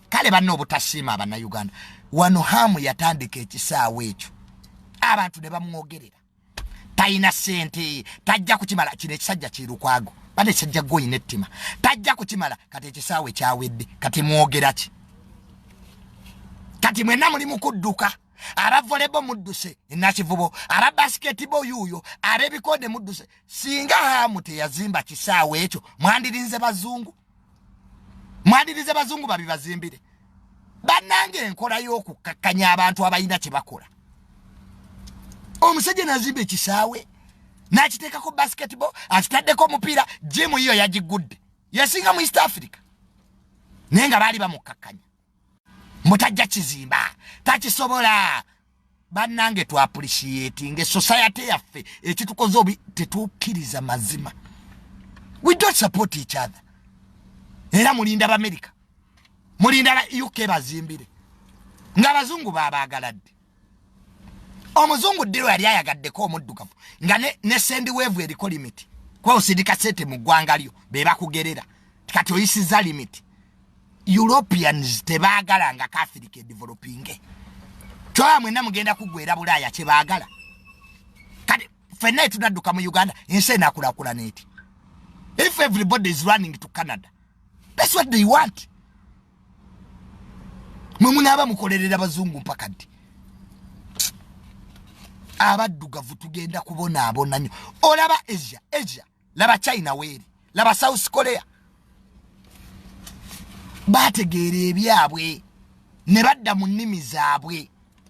kale banna obutasiima abannayuganda wano haamu yatandika ekisaawa ekyo abantu ne bamwogerera talina sente tajja kukimala kino ekisajja kirukwago bana ekisajja gwoyina ettima tajja kukimala kati ekisaawa ekyawedde kati mwogera ki kati mwena muli mukudduka aba volebo mudduse enakivubo aba basketbo yuuyo aba ebikonde mudduse singa haamu teyazimba kisaawa ekyo mwandirinze bazungu mwandirize bazungu babibazimbire bannanga enkola y'okukkakkanya abantu abalina kye bakola omusajja nazimba ekisaawe n'akiteekako basketball akitaddeko omupiira jimu yiyo yagigudde yasinga mu east africa naye nga baali bamukkakkanya mutajja kizimba takisobola bannange tu appreciate nge society yaffe ekitukoze obi tetukkiriza mazima we don't support each other era mulinda bamerica mulinda la uk bazimbire ng'abazungu baabaagala ddi omuzungu ddi lwe yali ayagaddeko omuddugavu nga ne, ne sendi weevu eriko limiti kwawusindika sente mu ggwanga lyo be bakugerera kati oyisiza limit europeans tebagala nga catholic edevelopinge kyoba mwena mugenda kugwera bulaaya kyebagala kati fenna etunadduka mu uganda ensi enakulakulana eti if everybody is running to canada that's what they want mwe munaaba mukolerera bazungu mpaka ddi abaddugavu tugenda kubonaabona nyo olaba asia asia laba china weeri laba south korea bategeera ebyabwe ne badda mu nnimi zaabwe